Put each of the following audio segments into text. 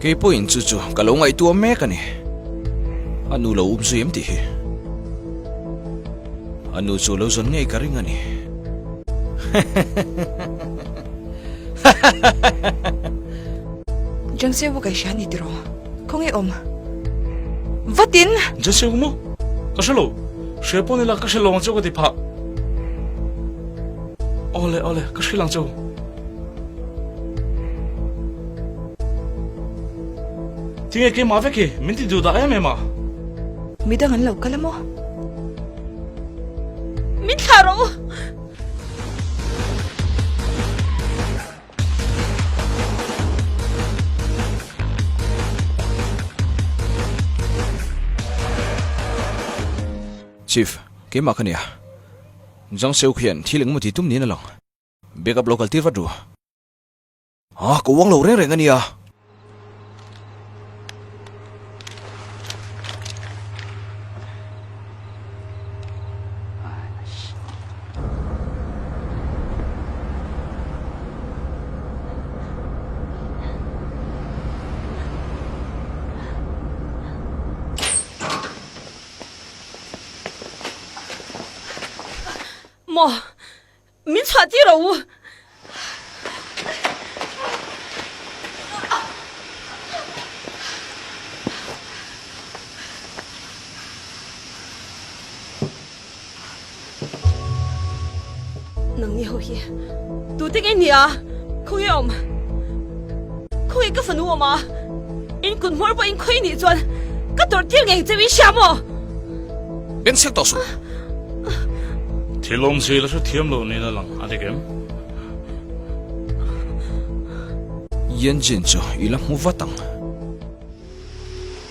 Kei pawhin chu chu ka lo ngaih tuam mek a ni. A nu lo um zui em tih hi. A nu chu lo zawn ngei ka ring a ni. John Seo ka hria ni tiraw? Khaw nge awm. Vatin! John Seo mu? Ka hre lo. Hria pawh nila ka hre lo ang chu ka ti phah. Aw le aw le, ka hrilh ang chu. Tinge keimah vek hi, min ti duh dah em em a. Midang an lo kal a maw? Min thlah rawh u. Chief, keimah ka nia. Jang Seuk hian thil engemaw ti tum niin a lang. Back up lo kal tir vat ru. Haa, ka uang lo reng reng a nia. Mo, min chhuah tir ro u. Nangni ho hi tu te ngei ni a, khaw nge awm? Khaw nge ka fanu awm a? In kut hmawr pawh in khawih nih chuan ka tawrh tir ngei cheu in hria maw? En sek tawh suh. Thilawm zela chu thiam lo niin a lang a dik em? Yanjin chu i la hmu vat ang.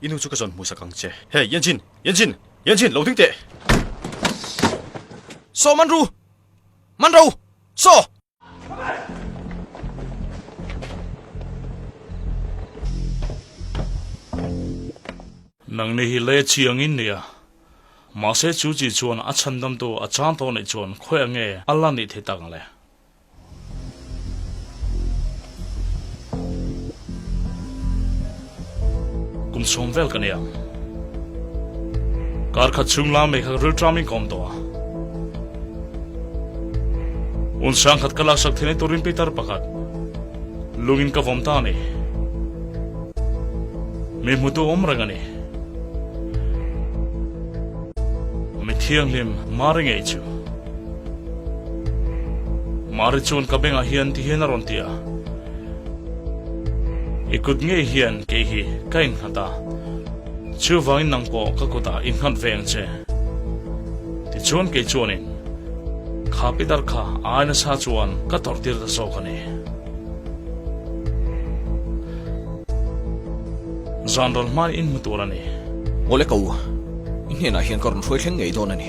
I nu chu ka zawn hmuhsak ang che. Hey, Yanjin! Yanjin! Yanjin! Lo ding teh! Saw man ru! Man ro! Saw! Nang nih hi leh chi angin nia. Mahse chu chi chuan a chhandamtu a chang tawh neih chuan khawiah nge a la ni thei tak ang le? Kum sawm vel ka nei ang. Kar khat chhung lam mai kha ka rilṭam in ka awm tawh a. Un sang khat ka laksak thei na tur rimpi tar pakhat lungin ka vawm ta a ni. Mi hmutu awm reng a ni. Mi thianghlim Marengei chu. Mari chuan ka bengah hian ti hian a rawn ti a, I kut ngei hian kei hi ka innghat a, chu vangin nang pawh ka kutah inghat ve ang che. Tichuan kei chuanin, Kha pi dar kha ai nasa chuan ka tawrh tir ta zawk a ni. Zanral hmai in hmu tur a ni. Mole ko, i hnenah hian ka rawn hruai thleng ngei dawn a ni.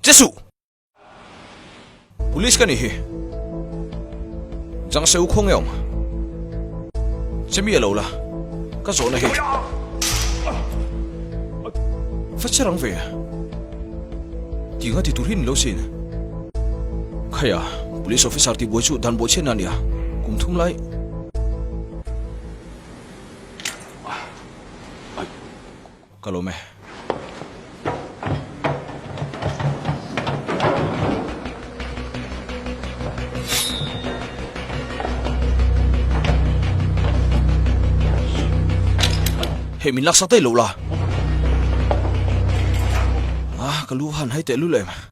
Che suh! Police ka nih hi. Jangse u khawng e awm. Che mi a lo la. Ka zawh na hi. Fa che rang ve a. Ti nga ti tur hian in lo sin. Khai a. Police officer ti buai chu dan buai chhiat na a ni a. Kum thum lai. Ka lawm e. Hei min laksak daih loh la. Ah, ka lu han hai teh lu leh.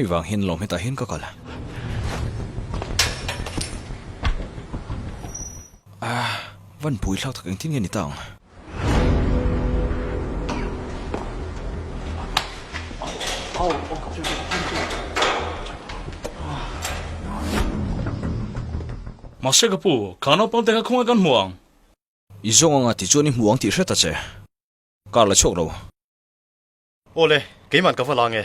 Hei vang hian lawm hetah hian ka kal. Aah, Vanpuii thlak tak engtin nge ni ta ang? Mahse ka pu, kha naupang te kha khawngaih kan hmu ang. I zawng anga tichuan i hmu ang tih hriat a che. Kar la chhuak lo. Aw le, keiman ka va la nge.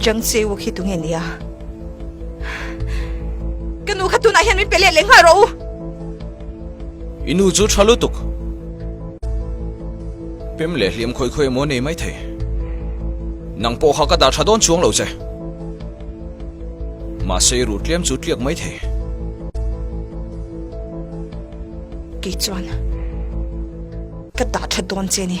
Jang Cheu khi tu nge nia? Ka nu kha tunah hian min pe let leh nghal rawh u. I nu chu tha lutuk. Pem leh hliam khawih khawih emaw nei mai thei. Nang pawh kha ka dah tha dawn chuang lo che. Mahse i ruh tliam chu tliak mai thei. Kei chuan ka dah tha dawn che ni.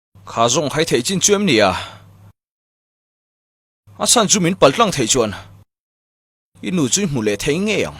Kha zawng hai theih chin chu em nia? A chhan chu min pal tlang theih chuan i nu chu i hmu leh thei ngei ang.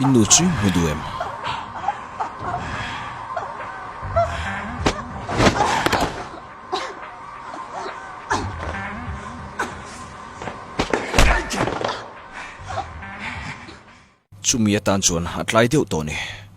I nu chu hmu duh em? Chumi atan chuan a tlai deuh tawh a ni.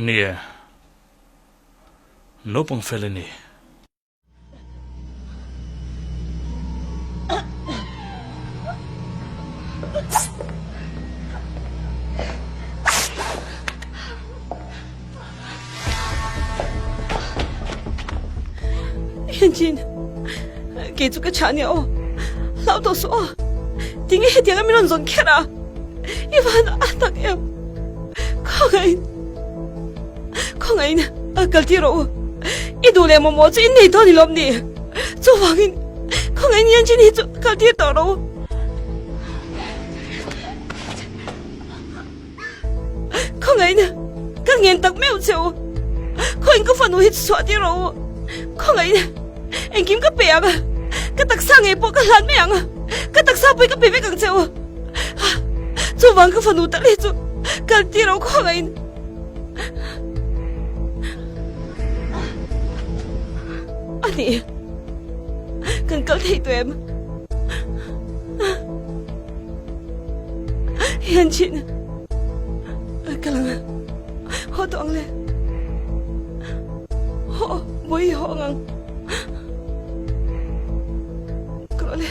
Ni e, naupang fel a ni. Hianchin, kei chu ka chah nia aw, hlau tawh suh aw. Tinge hetiang a min rawn zawn kher a, i van a tak em. Khangahin. Khawngaihin a kal ti rawh u. I duh leh mawmawh chu in nei dawn i lawm ni. Chuvangin khawngaihin Yanjin hi chu kal tir tawh rawh u. Khawngaihin kal ngen tak meuh che u. Khawiin ka fanu hi chu chhuah tir rawh u. Khawngaihin engkim ka pe ang a, ka taksa ngei pawh ka hlan mai ang a. Ka taksa pawhin ka pe vek ang che u. Chuvang ka fanu tal hi chu kal tir rawh khawngaihin. Ani, kan kal thei tawh em? Hian chin a kal ang a, haw tawh ang le. Haw, bawihi haw ang ang. Ka ruah le.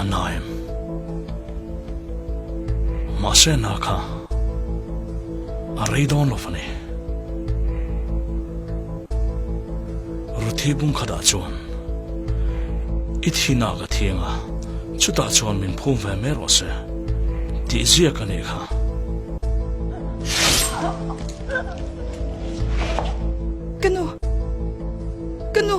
A na em? Mahse a na kha a rei dawn lo fani. Ruthi bung khat ah chuan, I thihna ka thiang a, chutah chuan min phum ve mai rawh se, tih ziak a nih kha. Ka nu! Ka nu!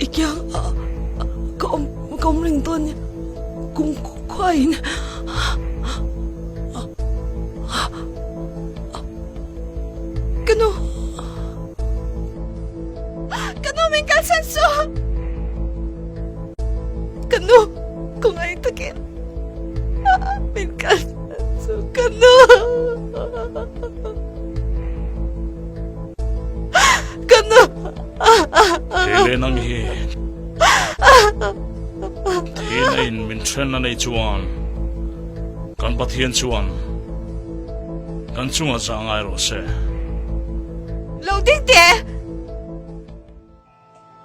I kiang a ka awm ka awm reng dawn nia kum khua in ka nu ka nu min kal chhan suah ka nu ka ngai takin min kal chhan suah ka nu. Ka nu! Thei leh nang hi theiin a in min ṭhen a nei chuan kan Pathian chuan kan chungah chah ngai rawh se. Lo ding teh!